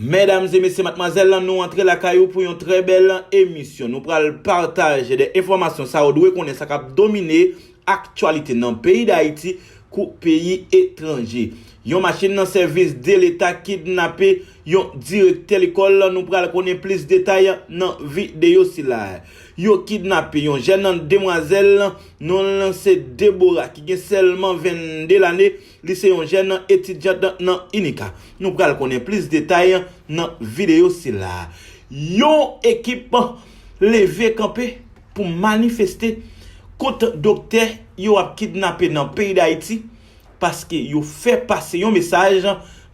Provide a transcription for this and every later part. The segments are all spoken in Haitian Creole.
Medam e mesye matmwazèl nou antre lakay ou pou yon trè bèl emisyon nou pral pataje de enfòmasyon sa ou dwe konnen sa kap domine aktyalite nan peyi dayiti kou peyi etranje yon machin nan sèvis de leta kidnape yon direktè lekòl nou pral konnen plis detay nan videyo sila yo kidnape yon jèn demwazèl nonl se Deborah ki gen sèlman 22 lane. Li se yon jèn etidyant nan UNICA. Nou pral konnen plis detay nan videyo sila. Yon ekip leve kanpe pou manifeste kont doktè yo ap kidnape nan peyi Dayiti paske yo fè pase yon mesaj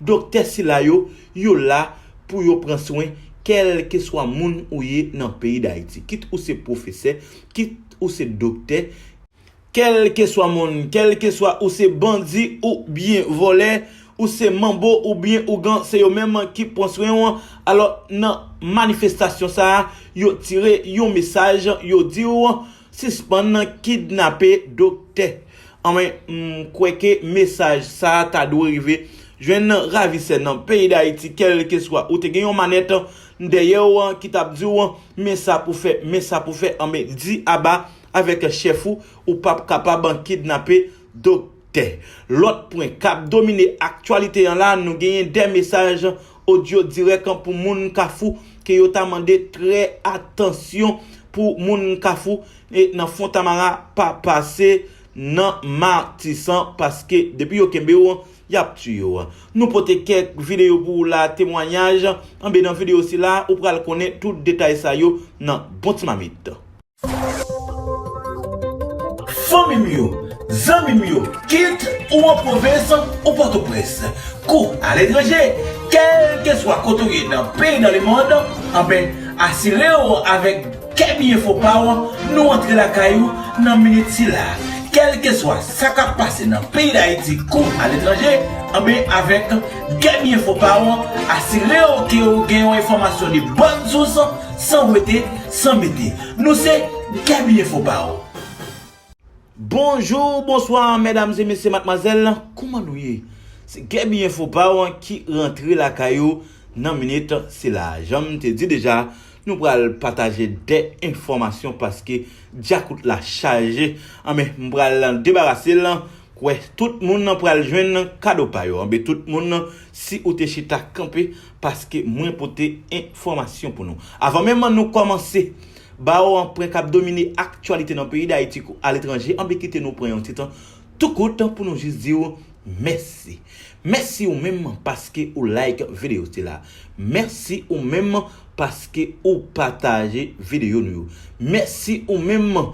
doktè sila yo, yo la pou yo pran swen kèlkeswa moun ou ye nan peyi Dayiti. Kit ou se pwofesè, kit ou se doktè. Kèlkeswa moun, kèlkeswa ou se bandi ou byen vòlè, ou se manbo ou byen ougan se yo menm ki pwan swen ou alò nan manifestasyon sa yo tire yon mesaj yo diw sispann kidnape doktè anmwey m kwè ke mesaj sa ta dwe rive jwenn ravisè nan peyi dayiti kèlkeswa ou te gen yon manèt dèyèw ki tap diw men sa pou fè men sa pou fè anmwey di aba avèk chèf ou ou pap kapab kidnape doktè. Lòt pwen kap domine aktyalite an la nou genyen 2 mesaj odyo dirèk pou moun kafou ke yo ta mande trè atansyon pou moun kafou nan fontamara pa pase nan matisan paske depi yo kenbe w yap tiye w. Nou pote kèk videyo pou ou la temwanyaj anben nan videyo sila ou pral konnen tout detay sa yo nan bon ti mamit. Fanmi m yo, zanmi m yo, kit ou an pwovens ou Pòtoprens, kou aletranje, kèlkeswa kote w ye nan peyi nan lemond, anben asire w avèk Kè Byen Fo Pa w nou antre lakay ou nan minit sila. Kèlkeswa sa k ap pase nan peyi Dayiti kou aletranje, anben avèk Kè Byen Fo Pa w asire w ke w gen yon enfòmasyon de bòn sous san wete, San mete, nou se Gaby Info pa ou. Bonjour, bonsoir mesdames et messieurs mademoiselles, kouman nou ye? Se Gaby Info pa ou ki rantre lakay ou nan minit sila. Janm te di deja, nou pral pataje 2 enfòmasyon paske djakout la chaje. Anben, m pral debarase l, kwè tout moun pral jwenn kado pa yo. Anben tout moun, si ou te chita kanpe Paske mwen pote enfòmasyon pou nou. Avan menm an nou kòmanse ba ou an pwen k ap domine aktyalite nan peyi Dayiti kou aletranje, anben kite nou pran yon ti tan tou kout pou nou jis di ou mèsi. Mèsi ou menm paske ou like videyo sila. Mèsi ou menm paske ou pataje videyo nou yo. Mèsi ou menm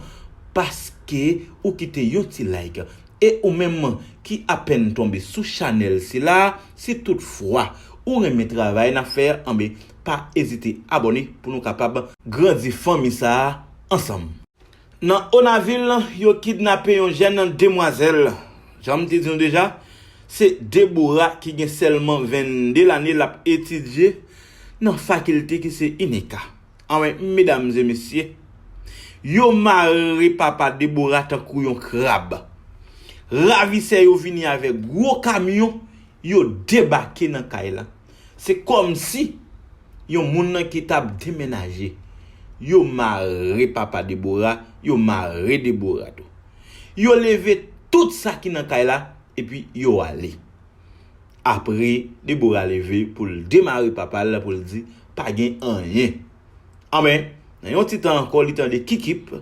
paske ou kite yon ti like. E ou menm ki apèn tonbe sou chanèl sila a si tout fwa ou renmen travay nap fè anben pa ezite abòne pou nou kapab grandi fanmi sa a ansanm. Nan Onavil, yo kidnape yon jèn demwazèl. Jan m te di nou deja, se Deborah ki gen sèlman 22 lane l ap etidye nan fakilte ki se INECA. Anmweyy medam e mesye yo mare papa Deborah tankou yon krab. Ravisè yo vini avèk gwo kamyon yo debake nan kay la. Se kòmsi yon moun nan ki tap demenaje. Yo mare papa Deborah, yo mare Deborah tou. Yo leve tout sa ki nan kay la epi yo ale. Apre, Debora leve pou l demare papa l pou l di, Pa gen anyen. Anben, nan yon ti tan ankò, li tande kikip.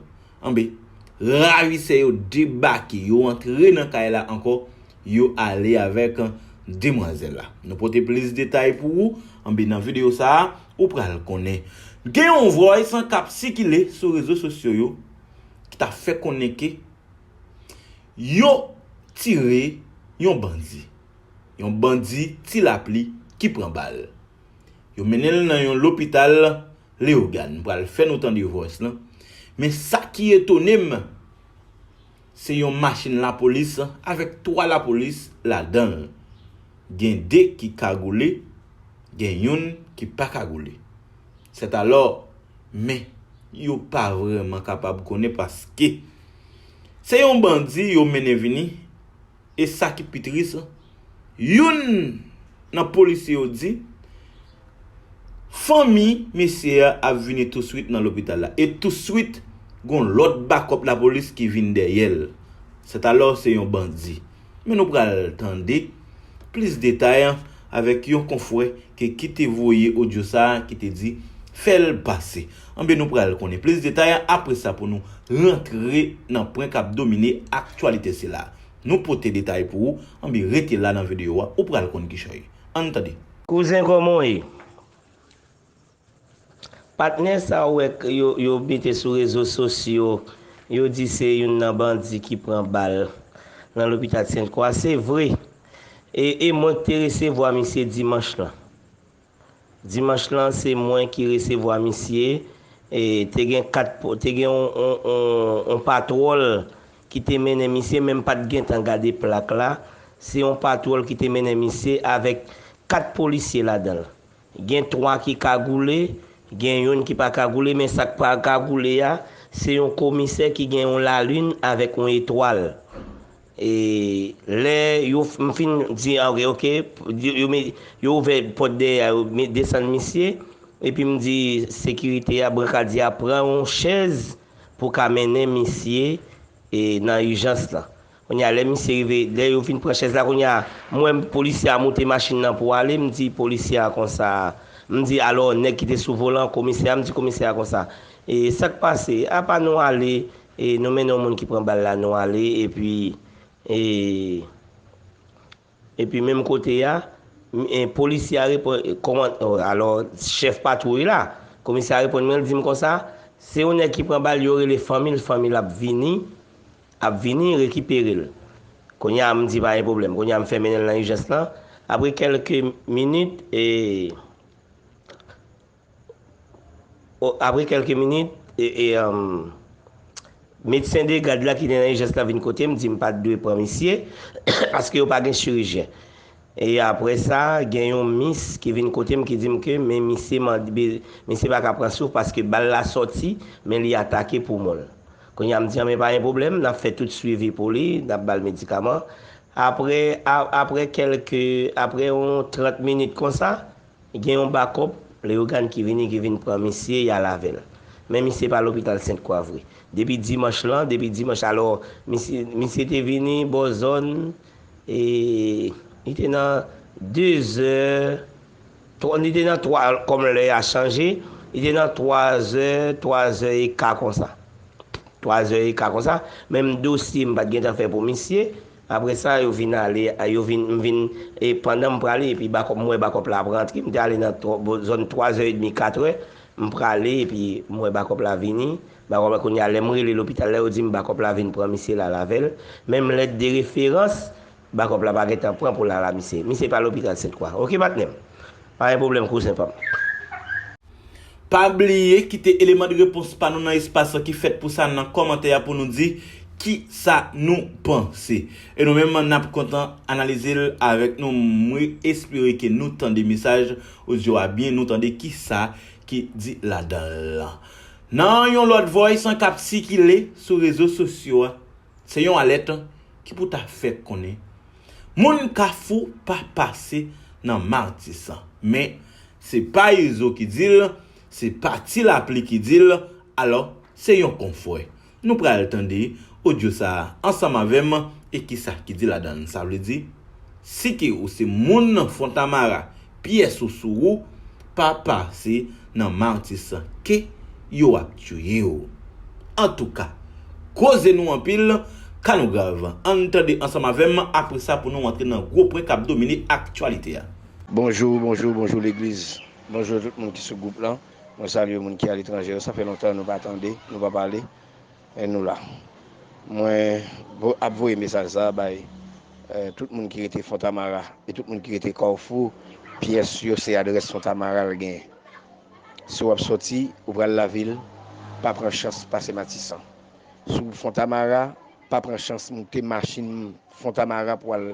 Anben, ravisè yo debake, yo antre nan kay la ankò, yo ale avèk demwazèl la. Nou pote plis detay pou ou, anben nan videyo sa a, ou pral konnen. Gen yon vòys k ap sikile sou rezo sosyo yo ki ta fè konnen ke. Yo tire yon bandi. Yon bandi Ti Lapli ki pran bal. Yo mennen l nan yon lopital Leyogàn. M pral fè nou tande vòs lan. Men sa ki etone m, se yon machin lapolis avèk 3 lapolis ladan l. Gen 2 ki kagoule, gen youn ki pa kagoule. Sètalò, men, yo pa vrèman kapab konnen paske se yon bandi yo mennen vini e sa ki pi tris la, youn nan polisye yo di fanmi mesye a ap vini touswit nan lopital la e touswit gon lòt bakòp lapolis ki vin dèyè l. Sètalò se yon bandi. Men nou pral tande. Plis detay avèk yon konfwè ke ki te voye odyo sa ki te di fèl pase. Anben nou pral konnen plis detay apre sa pou nou rantre nan pwen kap domine aktyalite sila. Nou pote detay pou ou anben rete la nan videyo a ou pral konn kichòy. Ann tande. Kouzen kòman w ye? Patnè sa w wè k yo mete sou rezo sosyo, yo di se youn nan bandi ki pran bal nan lopitat Sent Kwa, se vre. E e mwen k te resevwa misye dimanch lan. Dimanch lan se mwen ki resevwa misye, e te gen 4, te gen yon yon patwòl ki te mennen misye men m pa t gentan gade plak la, se yon patwòl ki te mennen misye avèk 4 polisye ladan l. Gen 3 ki kagoule, gen youn ki pa kagoule men sak pa kagoule a se yon komisè ki gen yon lalin avèk yon etwal e lè yo m fin di ok ok yo ouvè pòt dèyè a yo desann misye epi m di sekirite a brankadye a pran yon chèz pou ka mennen misye nan ijans lan. Kounya lè misye rive lè yo fin pran chèz la kounya m wè polisye a moute machin nan pou ale m di polisye a konsa m di alò nèg ki te sou volan komisè a m di komisè a konsa e sa k pase apa nou ale e nou mennen yon moun ki pran bal la nou ale epi e Epi menm kote a, polisye a reponn, koman, alò, chèf patwouy la, komisè a reponn mwen, li di m konsa, se yon nèg ki pran bal, yo rele fanmi l, fanmi l ap vini, ap vini rekipere l. Kounye a m di pa gen pwoblèm, kounye a m fè mennen l nan ijans lan, apre kèlke minit, e. Apre kèlke minit, medsen de gad la ki te nan ijans la vin kote m, di m pa t dwe pran misye, paske yo pa gen chirijyen. E apre sa, gen yon mis ki vin kote m ki di m ke men misye mande, misye pa ka pran souf paske bal la sòti, men li atake poumon l. Kounye a m di an men pa gen pwoblèm, n ap fè tout swivi pou li, n ap ba l medikaman. Apre, apre kèlke, apre yon 30 minit konsa. Gen yon bakòp, Leyogàn ki vini ki vin pran misye, y al avè l. Men misye pa lopital Sent Kwa vre. Depi dimanch lan, depi dimanch alò, misye, misye te vini bò zòn, e, li te nan dezè, twa, li te nan twa, kòm lè a chanje, li te nan twazè, twazè e ka konsa. Twazè e ka konsa, menm dosye m pa t gentan fè pou misye, Apre sa, yo vin ale, yo vin, m vin, e pandan m prale, epi bakòp, m wè bakòp la ap rantre, m te ale nan tro, bo zòn twazè edmi, katrè, m prale, epi m wè bakòp la vini, bakòp la, kounye a, lè m rele lopital la, yo di m bakòp la vin pran misye l al avè l, menm lèt de referans, bakòp la pa gen tan pran pou l al a misye. Misye pa lopital Sentkwa. Ok, patnè m? Pa gen pwoblèm kouzen pa m. Pa bliye kite eleman de repons pa nou nan espas lan ki fèt pou sa nan kòmantè a pou nou di kisa nou panse. E nou menm n ap kontan analize l avèk nou. M espere ke nou tande mesaj odyo a byen, nou tande kisa ki di ladan l. Nan yon lòt vòys an k ap sikile sou rezo sosyo a, se yon alèt ki pou ta fè konnen Moun kafou pa pase nan matisan men se pa izo ki dil se pa ti lapli ki dil alò se yon konfwè nou pral tande odyo sa ansanm avèm e kisa ki di ladann sa vle di si ke ou se moun fontamara pyè sousou ou pa pase nan martissant ké yo ap tiye w antouka koze nou anpil ka nou grav ann tande ansanm avèm apresa pou nou antre nan gwo pwen kap domine aktyalite a. Bonjou bonjou bonjou legliz bonjou tout moun ki sou gwoup lan mwen salye moun ki aletranje yo sa fè lontan nou pa tande nou pa pale E nou la. Mwen ap voye mesaj sa bay tout moun ki rete Fontamara e tout moun ki rete Kawfou, pyès yo se adrès Fontamara l gen. Si w ap soti, ou pral lavil, pa pran chans pase Matisan. Si w Fontamara, pa pran chans moute machin Fontamara pou w al.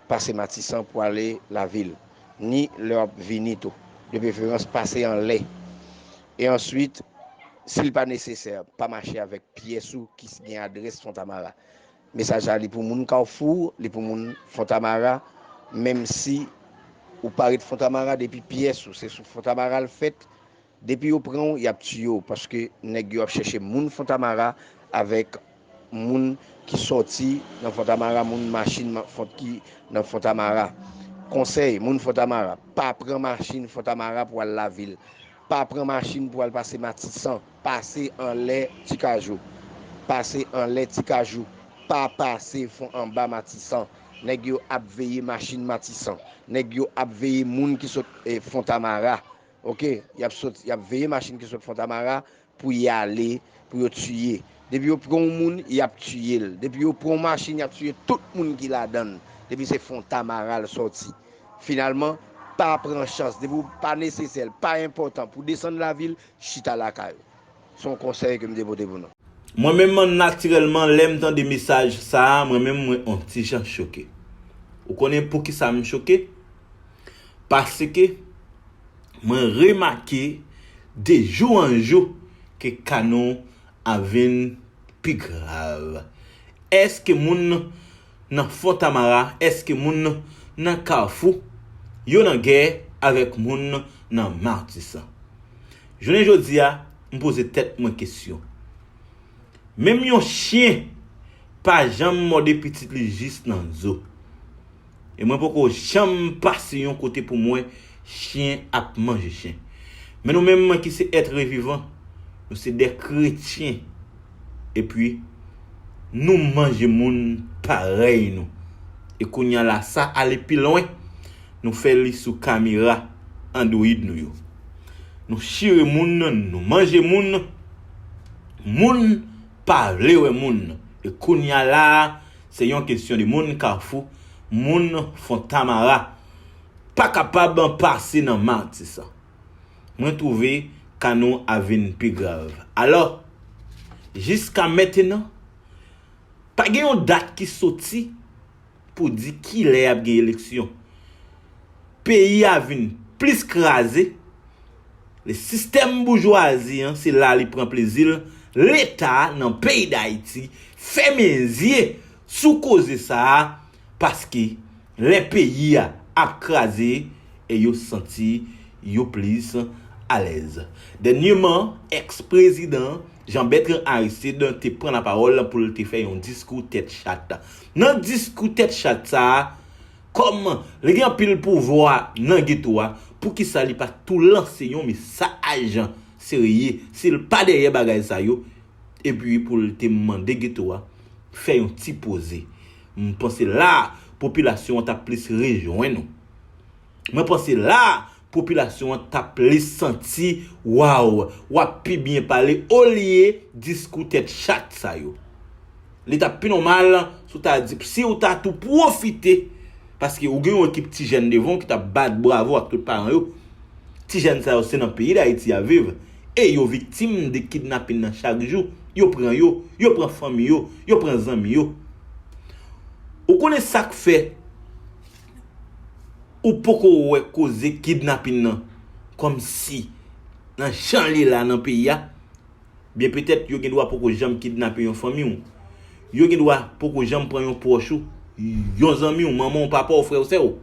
Pase Matisan pou ale Lavil, ni lè w ap vini tou. De preferans, pase anlè. E answit, si l pa nesesè, pa mache avèk pyès ou ki gen adrès Fontamara. Mesaj la li pou moun Kawfou, li pou moun Fontamara, menmsi ou pa ret Fontamara depi pyès ou se sou Fontamara l fèt, Depi yo pranw yap tiyew paske nèg yo ap chèche moun fontamara avèk moun ki sòti nan fontamara moun machin font ki nan fontamara konsèy moun fontamara pa pran machin fontamara pou al lavil pa pran machin pou al pase matisan pase anlè tikajou pase anlè tikajou pa pase fon anba matisan nèg yo ap veye machin matisan nèg yo ap veye moun ki sot fontamara. Ok yap sot yap veye machine ki sot fontamara pou yale pou yo tiye depi yo pran yon moun yap tiyel depi yo pran yon machine yap tiye tout moun ki ladann depi se fontamara l soti finalman pa pran chans depi w pa nesesè l pa enpotan pou desann lavil chita lakay ou. Se yon konsèy ke m te pote pou nou. Mwen menm an natirèlman lè m tande mesaj sa a mwen menm mwen on ti jan choke. Ou konnen poukisa m choke? Paske mwen remake de jou an jou ke ka nou ap vin pi grav. Èske moun Nan Fontamara eske moun nan Kafou yo nan gè avèk moun nan Matisan? Jounen jodi a m poze tèt mwen kesyon. Menm yon chyen pa janm mòde pitit li jis nan zo. E mwen poko janm pase yon kote pou m wè Chyen ap manje chyen. Men nou menm ki se etre vivan, nou se de kretyen epi nou manje moun parèy nou. E kounya la sa ale pi lwen, nou fè li sou kamera android nou yo. Nou chire moun, nou manje moun, moun pa vle wè moun. E kounya la se yon kesyon de moun kafou, moun fontamara. Pa kapab pase nan matisan. Mwen twouve ka nou a vin pi grav. Alò, jiska mentenan, pa gen yon dat ki soti pou di ki lè ap gen eleksyon. Peyi a vin plis kraze, le sistèm boujwazi an se la li pran plezi l, leta nan peyi dayiti fèmen zye sou koze sa a, paske lè peyi a ap kraze e yo santi yo plis alèz. Dènyeman, èks prezidan Jean Bertrand Aristide te pran lapawòl pou l te fè yon diskou tèt chat. Nan diskou tèt chat sa a, kòm li gen anpil pouvwa nan geto a, poukisa li pa tou lanse yon mesaj serye si l pa dèyè bagay sa yo epi pou l te mande geto a fè yon ti poze. M panse la a popilasyon an t ap plis rejwenn ou. Mwen panse la a popilasyon an t ap plis santi waw w ap pi byen pale olye diskou tèt chat sa yo. Li t ap pi nòmal si w ta di si w ta tou pwofite paske ou gen yon ekip ti jèn devan w ki t ap bat bravo ak tout paran yo. Ti jèn sa yo se nan peyi Dayiti y ap viv e yo viktim de kidnapin nan chak jou, yo pran yo, yo pran fanmi yo, yo pran zanmi yo. Ou konnen sak fè ou poko wè koze kidnapin nan kòm si nan jan li la nan peyi a, byen petèt yo gen dwa poko janm kidnape yon fanmi w, Yo gen dwa poko janm pran yon pwòch ou, yon zanmi w, manman w, papa w, frè w, sè w.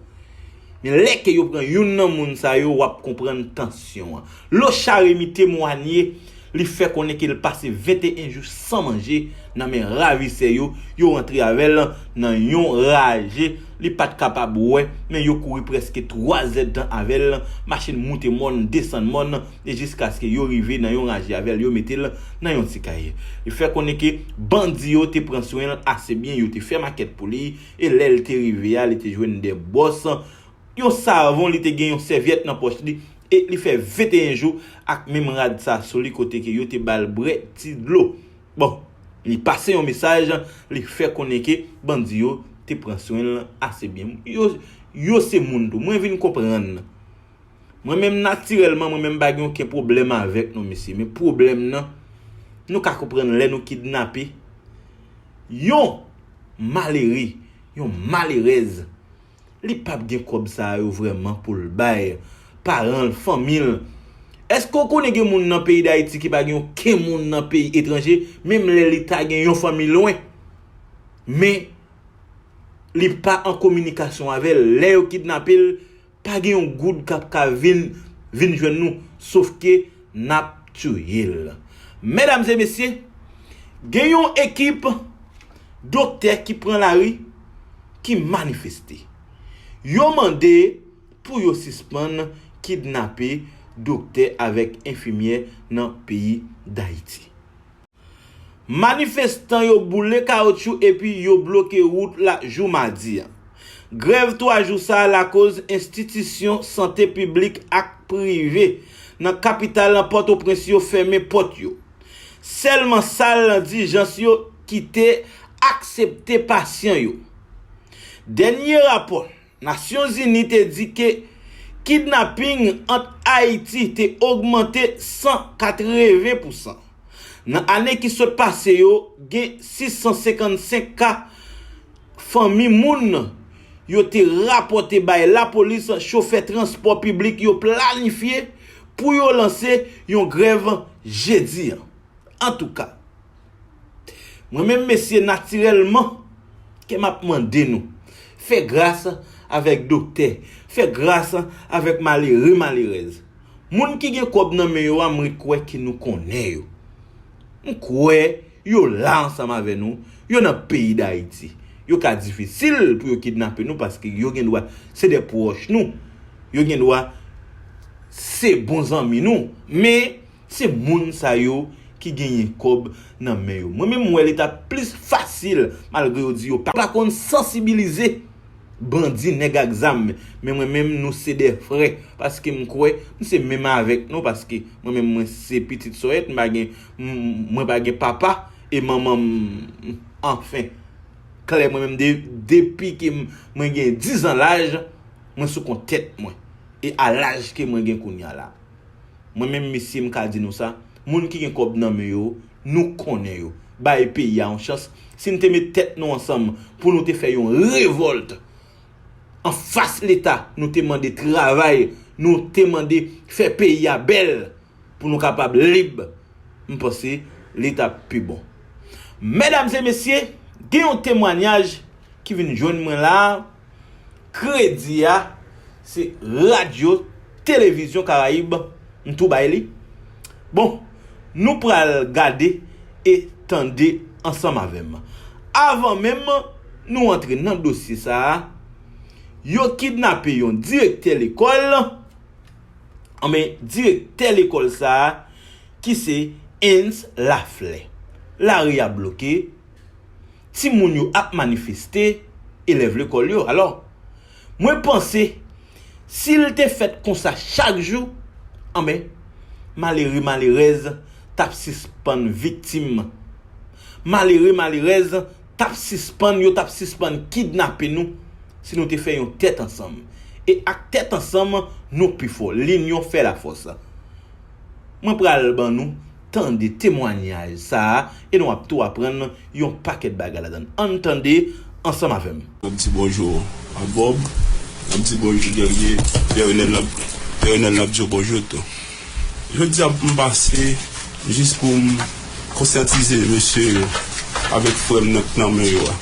Men lè ke yo pran youn nan moun sa yo, w ap konprann tansyon an. Locha Remy temwanye, li fè konnen ke l pase 21 jou san manje nan men ravisè yo, yo rantre avè l nan yon raje li pa t kapab wè, men yo kouri prèske 3 zèdtan avè l, machin moute mòn, desann mòn, e jiskaske yo rive nan yon raje avè l yo mete l nan yon ti kay. Li fè konnen ke bandi yo te pran swen l ase byen, yo te fè makèt pou li, e lè l te rive a li te jwenn 2 bòs, yon savon, li te gen yon sèvyèt nan pòch li, e li fè 21 jou ak menm rad sa sou li kote ke yo te ba l bwè ti dlo. Bon, li pase yon mesaj, li fè konnen ke bandi yo te pran swen l ase byen. Yo se moun tou. Mwen vin konprann. Mwen menm natirèlman mwen menm m pa gen oken pwoblèm avèk nou mesye men pwoblèm nan nou ka konprann lè nou kidnape yon malere, yon malerèz li pap gen kòb sa yo vrèman pou l bay paran l, fanmi l. Èske ou konnen gen moun nan peyi Dayiti ki pa gen oken moun nan peyi etranje menm lè li ta gen yon fanmi lwen men li pa an kominikasyon avè l lè yo kidnape l? Pa gen yon goud kap ka vin vin jwenn nou sof ke nap tiye l. Medam e mesye, gen yon ekip doktè ki pran lari ki manifeste. Yo mande pou yo sispann kidnape doktè avèk enfimyè nan peyi Dayiti. Manifestan yo boule kawoutchou epi yo bloke wout la jou madi a. Grèv 3 jou sa a lakoz enstitisyon sante piblik ak prive nan kapital lan Pòtoprens yo fèmen pòt yo. Sèlman sal dijans yo ki te aksepte pasyan yo. Dènye rapò. Nasyonzini te di ke kidnaping ant Ayiti te ogmante 180 pousan. Nan ane ki sot pase yo, gen 655 ka fanmi moun yo te rapòte bay lapolis chofè transpò piblik yo planifye pou yo lanse yon grèv jedi an. Antouka. Mwen menm mesye natirèlman kèm ap mande nou fè gras avèk doktè, fè gras avèk malere malerèz. Moun ki gen kòb nan men yo a mwen kwè ke nou konnen yo. M kwè yo la ansanm avè nou, yo nan peyi dayiti. Yo ka difisil pou yo kidnape nou paske yo gen dwa se de pwòch nou, yo gen dwa se bon zanmi nou men Se moun sa yo ki genyen kob nan men yo. Mwen menm m wè li tap plis fasil malgre yo di yo pa konn sansibilize bandi nèg ak zam men mwen menm nou se 2 frè paske m kwè m se menm avèk nou paske mwen menm mwen se pitit sòyèt m pa gen mwen pa gen papa e manman m anfen klè mwen menm depi ke mwen gen 10 an laj mwen sou kont tèt mwen e a laj ke mwen gen kounya la. Mwen menm mesye m ka di nou sa, moun ki gen kòb nan men yo, nou konnen yo. Bay peyi a yon chans, si n te met tèt nou ansanm pou nou te fè yon revòlt an fas leta, nou te mande travay, nou te mande fè peyi a bèl pou nou kapab lib, m panse li t ap pi bon. Medam e mesye, gen yon temwanyaj ki vin jwenn mwen la a. Kredi a se Radyo Televizyon Karayib m tou bay li. Bon, nou pral gade e tande ansanm avè m. Avan menm nou antre nan dosye sa a, yo kidnape yon direktè lekòl, anben direktè lekòl sa a ki se Heinz Laflè. Lari a bloke. ti moun yo ap manifeste elèv lekòl yo alò mwen panse sil te fèt konsa chak jou anbè malere malerèz tap sispann viktim malere malerèz tap sispann yo tap sispann kidnape nou si nou te fè yon tèt ansanm e ak tèt ansanm nou pi fò linyon fè lafòs. Mwen pral ban nou tande temwanyaj sa a e nou ap tou aprann yon pakèt bagay ladan l. Ann tande ansanm avè m. N ap di bonjou a Bòb. N ap di bonjou dènye Pè Renèl. N ap Pè Renèl n ap di yo bonjou tou. Jodi a m pase jis pou m konsyantize mesye yo avèk frè m nan k nan men yo a.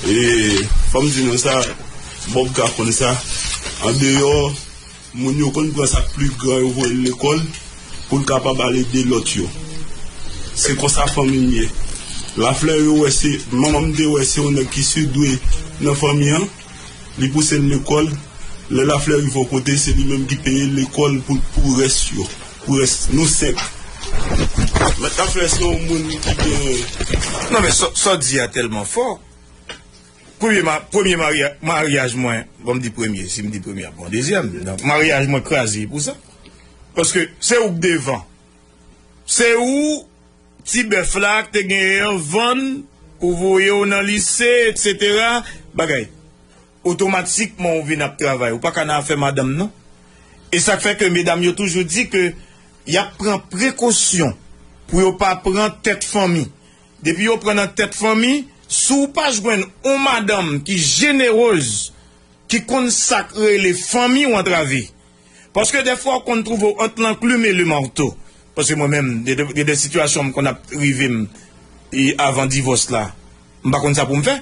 E fò m di nou sa, Bòb ka konn sa, andeyò. Moun yo konn pran sak pli gran yo voye l lekòl pou l kapab al ede lòt yo. Se konsa fanmi m ye. Lafleur yo wè se manman m te wè se yon nèg ki sudwe nan fanmi an, li pouse l lekòl, lè Lafleur rive yon kote se li menm ki peye lekòl pou pou rès yo, pou rès nou 5. Mèt Lafleur se yon moun ki gen. Non men sa w di a tèlman fò. Premye ma premye marya maryaj mwen bon m di premye si m di premye ap bon dezyèm donk maryaj mwen kraze pou sa paske se ou k devan se ou ti bèf la k te genyen an vann pou voye w nan lise eksetera bagay otomatikman ou vin ap travay ou pa ka nan afè madanm non e sa k fè ke medam yo toujou di ke y ap pran prekosyon pou yo pa pran tèt fanmi. Depi yo pran nan tèt fanmi, si w pa jwenn on madanm ki jeneroz, ki konn sa k rele fanmi w antrave. Paske dèfwa w konn twouve w ant lanklim e lemarto. Paske mwen menm, gen de sitiyasyon m konn ap rive m e avan divòs la, m pa konn sa pou m fè.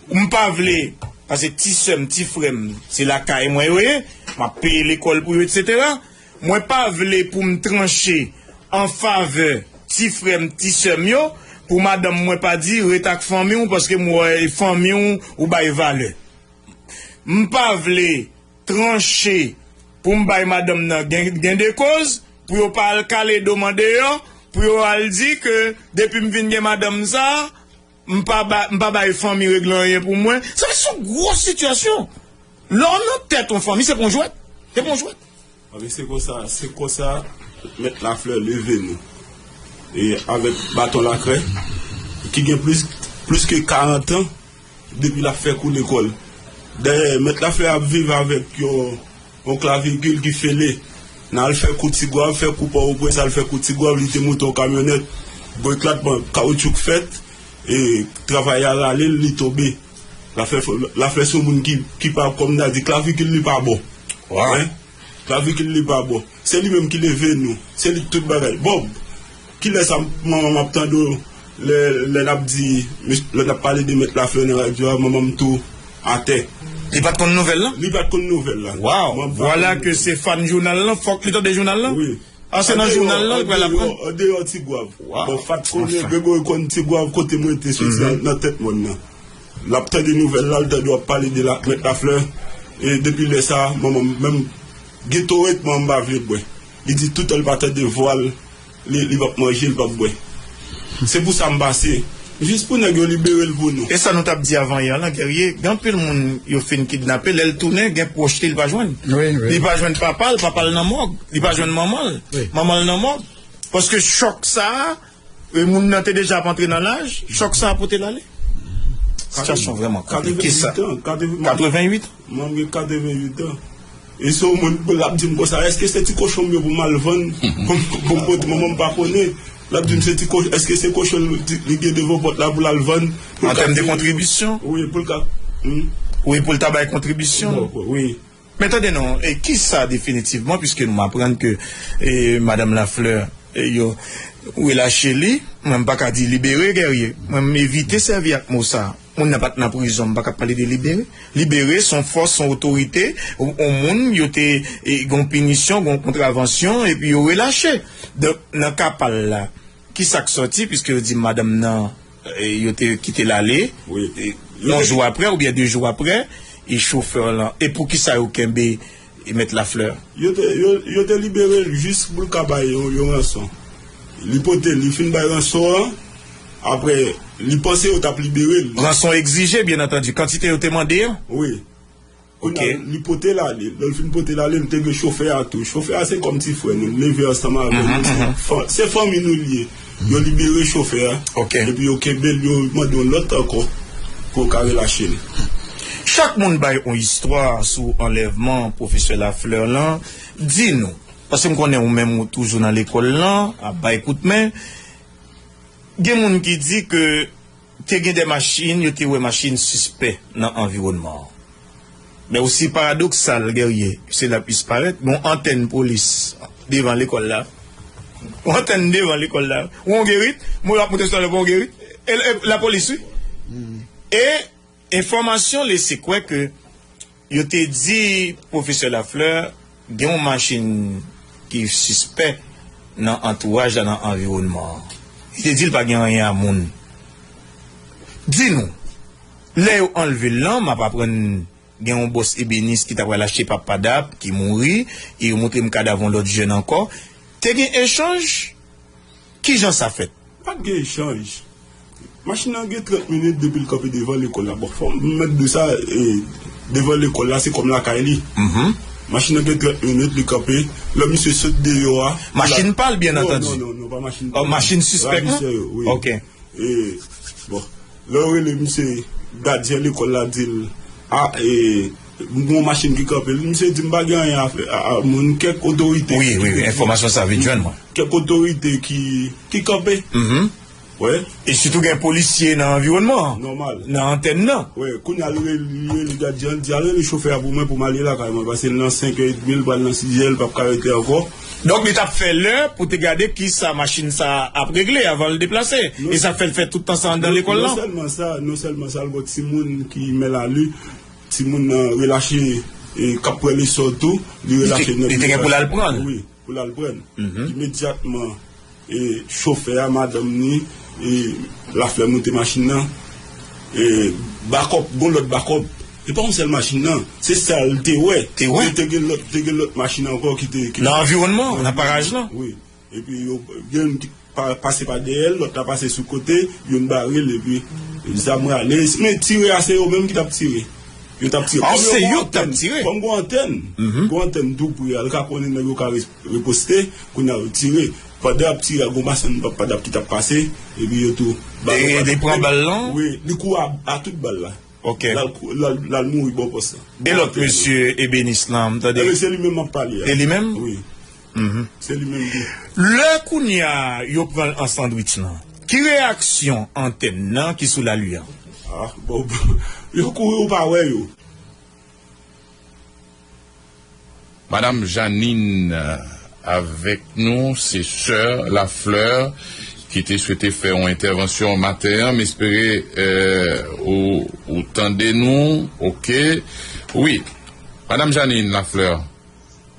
Ou m pa vle, pase ti sè m, ti frè m, se lakay mwen yo ye, m ap peye lekòl pou yo, etsetera. Mwen pa vle pou m tranche an favè ti frè m, ti sè m yo. Pou madanm mwen pa di, ret ak fanmi w paske m wè e fanmi w ou bay valè. M pa vle tranche pou m bay madanm nan gendekoz pou yo pa al kale do m andeyò, pou yo al di ke depi m vin gen madanm sa, M pa ba, m pa bay fanmi regle anyen pou mwen. Sa se yon gwo sitiyasyon. Lè w nan tèt yon fanmi, se pa yon jwèt. Se pa yon jwèt. Anben se konsa, se konsa Mèt Lafleur leve nou. E avèk baton lakrè, ki gen plis, plis ke karantan depi l ap fè kou lekòl. Dayè, Mèt Lafleur ap viv avèk yon. On klavigil ki fele. Nan al fè kou Tigwav, fè kou Pòwoprens, al fè kou Tigwav, li te monte on kamyonèt, brek la t pran, kawoutchou k fèt, e travayè a rale l, li tonbe. Laflè se on moun ki pa, kòm nan di, klavigil li pa bon. Klavigil li pa bon. Se li menm ki leve nou. Se li k tout bagay. Bòb! Kilè sa manman map tande w lè nap di lè nap pale de mèt lafleur nan radyo a manman m tou atè. Li pat konn nouvèl lan? Li pat konn nouvèl la. Waw! Vwala ke se fan jounal lan, fòk li tande jounal lan? Wi. A se nan jounal lan li pral aprann? An deyò Tigwav. Bon Fat konnen, Gregory konn Tigwav kote mwen te soti nan tèt mòn nan. Lap tande nouvèl la, li tande wap pale de mèt lafleur e depi lè sa manman m menm getoret manman m pa vle bwè. Li di toutan li pa tande vwa l, li pap manje, li pap bwè. Se pou sa m pase. Jis pou nèg yo libere l pou nou. E sa nou tap di avan yè an lan Guerrier, gen anpil moun yo fin kidnape, lè l tounen gen pwòch li l pa jwenn. Li pa jwenn papa l, papa l nan mòg. Li pa jwenn manman l, manman l nan mòg. Paske chòk sa a. E moun nan te deja ap antre nan laj, chòk sa a pote l ale. Sitiyasyon vrèman konplike sa. 88 an. Mwen gen 88 an. E se yon moun k ap di m konsa, èske se ti kochon m yo pou m al vann pou m pote? Manman m pa konnen. L ap di m, èske se kochon li gen devan pòt la pou l al vann? An tèm de kontribisyon? Wi, pou l ka. Wi, pou l ta bay kontribisyon? Wi. Men tande non, e kisa definitivman puiske nou aprann ke Madam Lafleur yo relache li, mwen m pa ka di libere Guerrier, mwen m evite sèvi ak mo sa, moun nan pa t nan prizon, m pa ka pale de libere, libere son fòs, son otorite, on moun yo te gen on pinisyon, gen on kontravansyon epi yo relache. Donk nan ka pa l la, kisa k sòti puiske yo di madanm nan. Yo te kite l ale. Yon jou apre oubyen de jou apre, e chofè lan. E poukisa yo kenbe Mèt Lafleur? Yo te libere l jis pou l ka bay yon ranson. Li pote l, li fin bay ranson an, apre li panse yo t ap libere l. Ranson egzije, byen antandi, kantite yo te mande an? Wi. Kounye a, li pote l ale. Lè l fin pote l ale, m te gen chofè a tou. Chofè a se kòm ti frè nou. L leve ansanm avè nou. Se fanmi nou l ye. Yo libere chofè a. Epi yo kenbe l, yo mande yon lòt ankò pou yo ka relache l. Chak moun bay yon istwa sou anlèvman Pwofesè Lafleur lan. Di nou, paske m konnen ou menm ou toujou nan lekòl lan, ap bay kout men, gen moun ki di ke. Te gen de machin, yo te wè machin sispè nan anviwònman an. Men osi paradoksal, Guerrier, se la plis parèt, gen yon antèn polis devan lekòl la. Yon antèn devan lekòl la. Yon Guerrit, mwen ap monte tout alè pou yon Guerrit. E lapolis wi. E. Enfòmasyon lese kwè ke yo te di pwofesè Lafleur gen yon machin ki sispè nan antouraj la, nan anviwònman an. Li te di l pa gen anyen a moun. Di nou, lè yo anlve l lan, m ap aprann gen yon bòs ebenis ki ta pral achte pa PADAP ki mouri, e yo montre m kadav yon lòt jèn ankò. Te gen echanj? Kijan sa fèt? Pa t gen echanj. Machin nan gen 30 minit depi l kanpe devan lekòl la. Bon, fò m mèt di sa, devan lekòl la se kòm lakay li. Machin nan gen 30 minit li kanpe, lò misye sot deyò a. Machin pa l byen antandi? Non, non, pa machin pa l. Machin sispèk la? Ravisè yo, wi. Ok. E, bon, lè yo rele misye, gadyen lekòl la di l, a, e. M gen yon machin ki kanpe l. Misye di m pa gen anyen a fè a moun. Kèk otorite. Wi, wi, wi. Enfòmasyon sa vin jwenn mwen. Kèk otorite ki, ki kanpe. Mh. Wè. E sitou gen polisye nan anviwònman an. Nòmal. Nan antèn nan. Wè. Kounye a l rele, li rele gadyen an, l di, al rele chofè a pou mwen pou m ale lakay mwen. Pase l nan senkè edmi, l pral nan sizè, l pap ka rete ankò. Donk li t ap fè lè pou te gade ki sa machin sa a ap regle avan l deplase. E sa k fè l fè tout tan sa a anndan lekòl lan. Non sèlman sa, non sèlman sa, l gen yon timoun ki mèlanou. Timoun nan relache e k ap pran leson l tou, li relache nèg li. Li te gen pou l al pran l? Wi, pou l al pran l. Imedyatman, chofè a, madanm ni, laflè monte machin nan. Bakòp, gon lòt bakòp. Se pa yon sèl machin nan. Se sa l te wè. Te wè? Te gen lòt machin ankò ki te. Nan anviwònman, nan paraj lan. Wi. Epi yo youn t pase pa dèyèl lòt la pase sou kote youn barel epi zam rale men tire a se yo menm ki tap tire yo tap tire kòm yo gon antèn kòm gon antèn gon antèn tou pre a yo ka konnen nèg yo ka riposte kounya yo tire pandan yap tire a gon machann padap ki tap pase epi yo tou barel li pran bal lan wi li kou a tout bal la lal mouri bò pòs la e lòt mesye ebenis lan m tande e li menm map pale a wi. Lè kounye a yo pran l an sandwich lan. Ki reyaksyon antèn nan ki sou lalu an? Yo kouri ou pa wè yo. Madame Jeanine avèk nou, se sè Lafleur ki te swete fè yon entèvansyon maten an. M espere ou tande nou ok. Wi, Madame Jeanine Lafleur.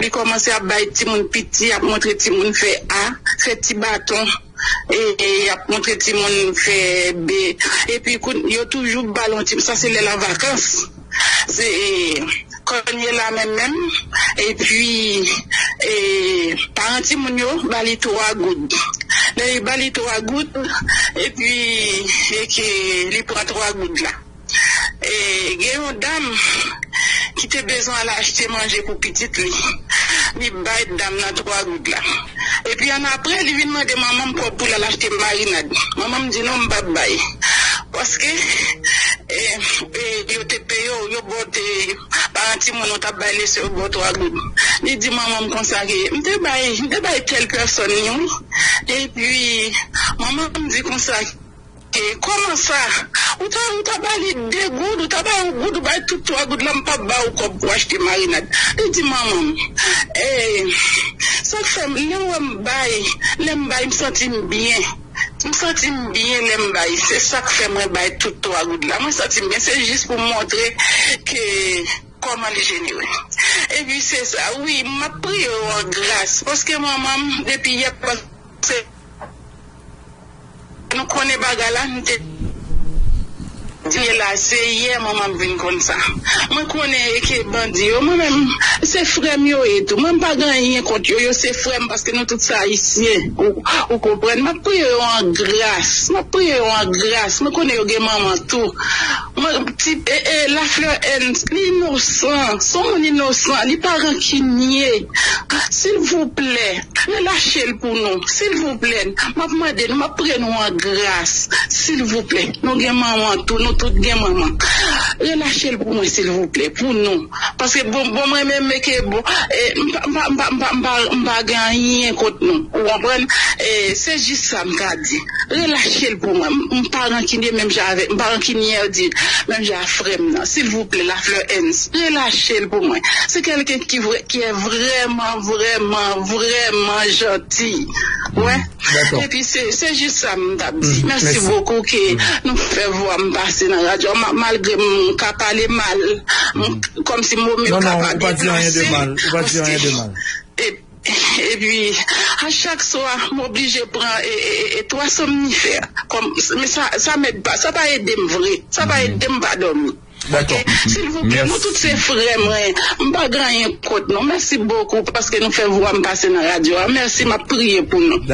Li kòmanse ap bay timoun piti ap montre timoun fè a, fè ti baton e ap montre timoun fè b epi kounye yo toujou bal yon ti sa se lèl an vakans se kònye la menm menm epi e paran timoun yo ba li 3 goud lè yo ba li 3 goud epi e ke li pran 3 goud la. Gen yon dam ki te bezwen al achte manje pou pitit li, li bay dam nan 3 goud la. Epi annapre, li vin mande manman m kòb pou l al achte marinad. Manman m di, non, m p ap bay. Paske, yo te peye w, yo ba w te, paran timoun ou t ap bay lese yo ba w 3 goud. Li di manman m konsa ke, m te bay, m te bay tèl pèsòn li wi. Epi, manman m di konsa. E koman sa? Ou ta ou ta ba li 2 goud, ou ta ba yon goud, ou bay tout 3 goud la m pap ba ou kòb pou achte marinad. Li di manman m, ee, sak fè m lè wè m bay, lè m bay m santi m byen, m santi m byen lè m bay, se sak fè mwen bay tout 3 goud la, mwen santi m byen, se jis pou m montre ke kòman li jenere. Epi se sa wi, m ap priye w an gras, paske manman m depi yè paske. Nou konnen bagay la nou te diye la se yè mwen map vin konn sa mwen konnen eke bandi yo mwen menm se frèm yo ye tou mwen mpa gen anyen kont yo yo se frèm paske nou tout se ayisyen ou konprann map priye yo an gras map priye yo an gras mwen konnen yo gen manman tou mwen ti la fleur Ernst li inosan son moun inosan li pa rankinye silvouplè. Relachel pou nou silvouplè map mande nou map pre nou an gras silvouplè nou gen manman tou nou tout gen manman relachel pou mwen silvouplè pou nou paske bon bon mwen menm eke bon mpa mpa mpa mpa mpa gen anyen kont nou ou konprann se jis sa mka di relachel pou mwen mpa rankinye menm jan avèk mpa rankinye di menm jan a frèm nan silvouplè lafleur ens relachel pou mwen se kelken ki vrè ki vrèman. Vrèman vrèman janti mwen epi se jis sa m tap di mèsi bokou ke nou fè vwa m pase nan radyo a malgre m ka pale mal kòmsi mo m yo ka pa byen plase epi a chak swa m oblije pran 3 somnifè sa pa ede m vre sa pa ede m pa dòmi. Ok silvouplè nou tout se frè mwen m pa gen anyen kont nou mèsi bokou paske nou fè vwa m pase nan radyo a mèsi map priye pou nou.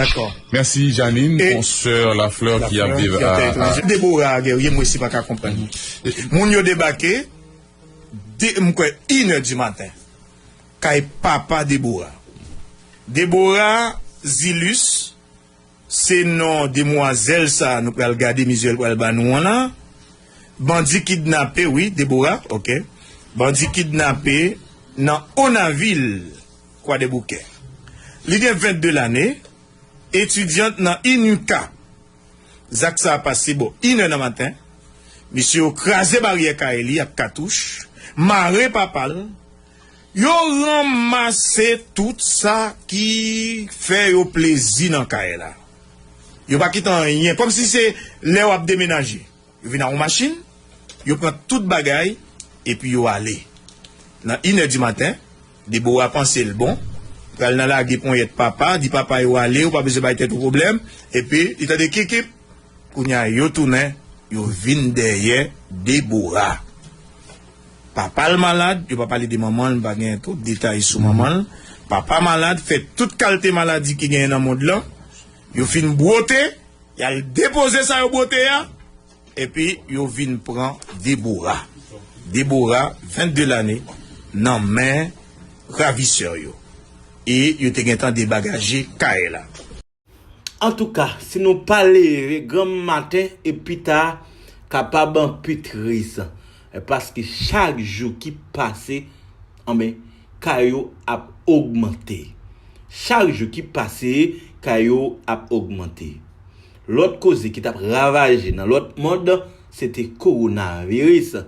Merci Jeanine on soeur la fleur ki ap viv a. Deborah Guerrier m resi paka konprann li moun yo debake de m kwè in è di maten kay papa Deborah Deborah Zilus Se non demwazèl sa nou pral gade mizyèl pral ba nou an la. Bandi kidnape wi Deborah ok. Bandi kidnape nan Onavil Kwadèboukè. Li gen 22 lane, etidyant nan INUCA. Zak sa pase bò inè nan maten. Mesye yo kraze baryè kay li ak katouch, mare papa l. Yo ranmase tout sa ki fè yo plezi nan kay la. Yo pa kite anyen. Kòmsi se lè w ap demenaje. Yo vin ak yon machin, yo pran tout bagay, epi yo ale. Nan inè di maten, Debora panse l bon, pral nan lage ponyèt papa, di papa yo ale, ou pa bezwen bay tèt ou pwoblèm. Epi, li tande kip kip. Kounye a, yo tounen, yo vin dèyè Debora. Papa l malad, yo pa pale de manman l, m pa gen twòp detay sou manman l. Papa malad, fè tout kalte maladi ki genyen nan mond lan. Yo fin bwote, y al depoze sa yo bwote a, epi yo vin pran Debora. Debora, 22 lane, nan men ravisè yo. E yo te gentan debagaje kay la. Antouka si nou pa leve granm maten e pita kapab anpi tris paske chak jou ki pase anben ka yo ap ogmante chak jou ki pase ka yo ap ogmante lòt koze ki tap ravaje nan lòt mond se te koronaviris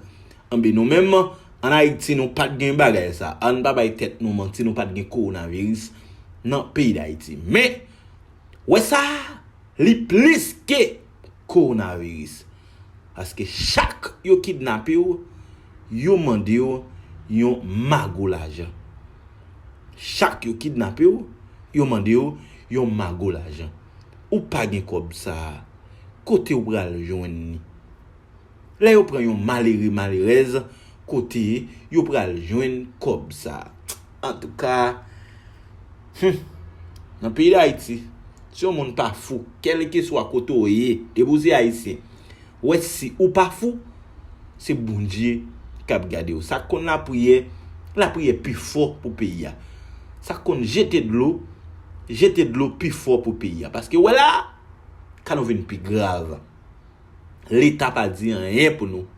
Anben nou menm an Ayiti nou pat gen bagay sa a, ann pa bay tèt nou manti nou pat gen kowonaviris nan peyi Dayiti. Men, wè sa a, li plis ke kowonaviris. Paske chak yo kidnape w, yo mande w yon mago lajan. Chak yo kidnape w, yo mande w yon mago lajan. Ou pa gen kòb sa a, kote w pral jwenn li? Lè yo pran yon malere malerèz kote yo pral jwenn kòb sa antouka humm nan peyi dayiti si yon moun pa fou kèlkeswa kote w ye depi w se ayisyen wè si ou pa fou se bondye kap gade w sak konn lapriyè lapriyè pi fò pou peyi a sak konn jete dlo jete dlo pi fò pou peyi a paske wè la ka nou vin pi grav. Leta pa di anyen pou nou.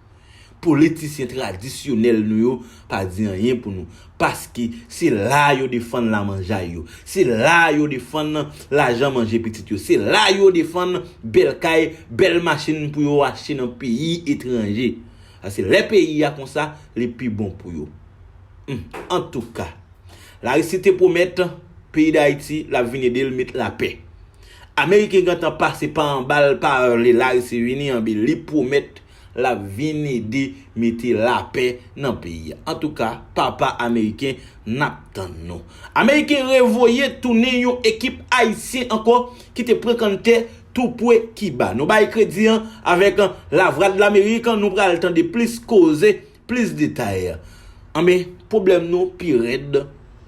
Politisyen tradisyonèl nou yo pa di anyen pou nou. Paske se la yo defann lamanjay yo. Se la yo defann lajan manje pitit yo. Se la yo defann bèl kay, bèl machin pou yo achte nan peyi etranje. Paske lè peyi a konsa, li pi bon pou yo. Antouka. Larisi te pwomèt peyi Dayiti l ap vin ede l met lapè. Ameriken gentan pase pa anbal pa rle larisi vini anbe li pwomèt lap vin ede mete lapè nan peyi a antouka papa ameriken nap tann nou ameriken revoye tounen yon ekip ayisyen ankò kite pran kann tè tou pwe kiba nou bay kredi an avèk lavradlamerik nou pral tande plis koze Plis detay, Anben, pwoblèm nou pi rèd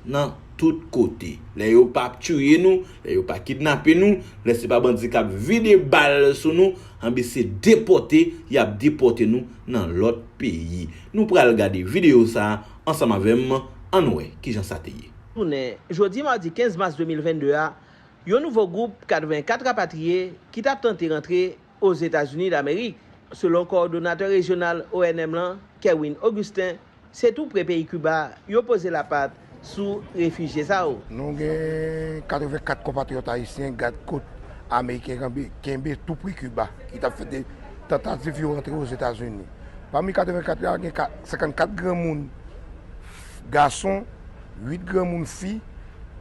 nan tout kote. Lè yo pa tiye nou, lè yo pa kidnape nou, lè se pa bandi k ap vide bal sou nou, anben se depòte y ap depòte nou nan lòt peyi. Nou pral gade videyo sa a ansanm avè m, ann wè ki jan sa te ye. Jounen jodi madi 15 mas 2022 a, yon nouvo gwoup 84 rapatriye ki t ap tante rantre Ozetazini Damerik, selon kowòdonatè rejyonal ONM lan, Kerwin Augustin, se tou pre peyi Kiba yo poze lapat sou refijye sa yo. Nou gen 84 konpatriyòt ayisyen gad kot ameriken kenbe tou pre Kiba ki t ap fè de tantativ yo rantre Ozetazini. Pami 84 la, gen 54 granmoun gason, 8 granmoun fi,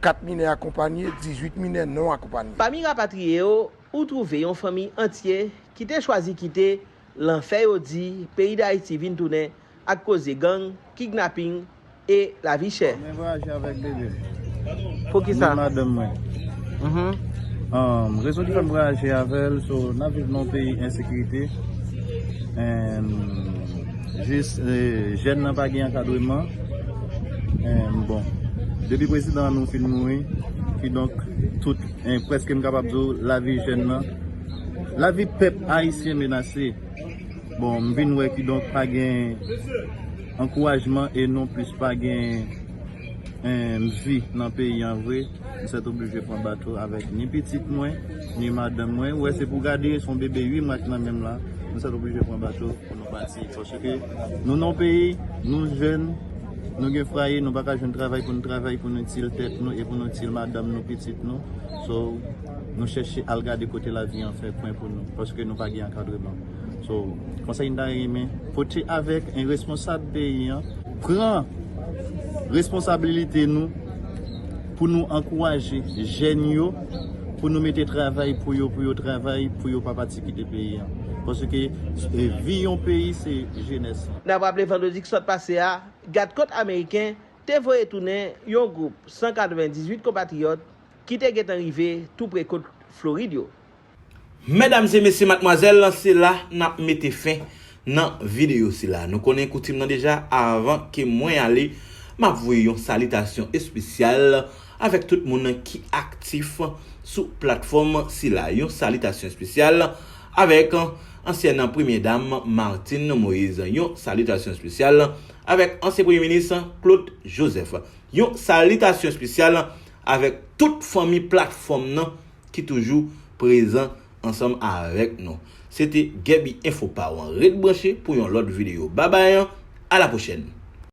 4 minè akonpanye, 18 minè non akonpanye. Pami rapatriye yo, Ou twouve yon fanmi antye ki te chwazi kite lanfè yo di peyi Dayiti vin tounen ak koze gang, kidnapping e lavi chè. Mwen voyaje avèk bebe m. Poukisa? Ni madanm mwen. Rezon ki fè m voyaje avè l so n ap viv nan yon peyi ensekirite and jis jèn nan pa gen ankadreman and bon depi prezidan an nou fin mouri kidonk tout Preske m kapab di w lavi jèn nan, lavi pèp ayisyen menase. Bon m vin wè kidonk pa gen ankourajman e non plis pa gen mnvi nan peyi an vre. M sètoblije pran bato avèk ni pitit mwen, ni madanm mwen. Ou wè se pou gade, se yon bebe 8 mwa ki nan menm la. M sètoblije pran bato pou nou pati paske nou nan yon peyi, nou jèn. Nou gen fwaye, nou pa ka jwenn travay pou nou travay pou nou itil tèt nou e pou nou itil madanm nou, pitit nou. So, nou chèche al gade kote lavi an fè kwen pou nou paske nou pa gen ankadreman. So, konsèy m ta renmen pote avèk en responsab peyi an, pran responsabilite nou pou nou ankouraje jèn yo pou nou mete travay pou yo pou yo travay pou yo pa pati kite peyi an paske vi yon peyi se. jenès lan. Nap raple vandredi ki sot pase a, gad kot ameriken te voye tounen yon gwoup 198 konpatriyòt ki te gentan rive tou pre kot Florid yo. Medam e mesye matmwazèl se la nap mete fen nan video sila. Nou konnen koutim nan deja avan ke mwen ale map voye yon salitasyon espesyal avèk tout moun ki aktif sou platfòm sila. Yon salitasyon espesyal Avèk ansyèn premyè dam Martine Moïse, yon salitasyon espesyal. Avèk ansyen premye minis Claude Joseph, yon salitasyon espesyal. Avèk tout fanmi platfòm nan ki toujou prezan ansanm avèk nou. Se te Gaby Info pa w ret branche pou yon lòt video. Babay, a la pwochèn.